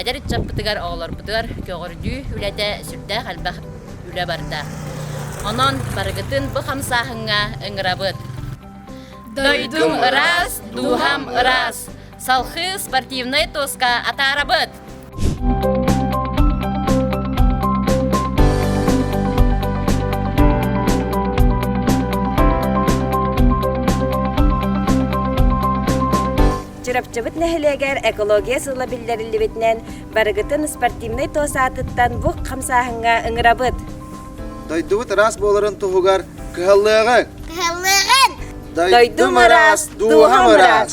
Эдэр ыччаппытыгар оҕолорбутугар көҕөрдүү үлэтэ сүрдээх элбэх үлэ барда. Онон барыгытын бу хамсааһыҥҥа ыҥырабыт. Дойдум ыраас, дууһам ыраас. Салхыы спортивнай туоска атаарабыт! Чурапчыбыт нэһилиэгэр экология сыла биллэриллибитинэн, барыгытын спортивнай туос аатыттан бук хамсааһыҥҥа ыҥырабыт! Дойдубут ыраас буоларын туһугар кыһаллыаҕыҥ! Кыһаллыаҕыҥ! Дойдум ыраас, дууһам ыраас!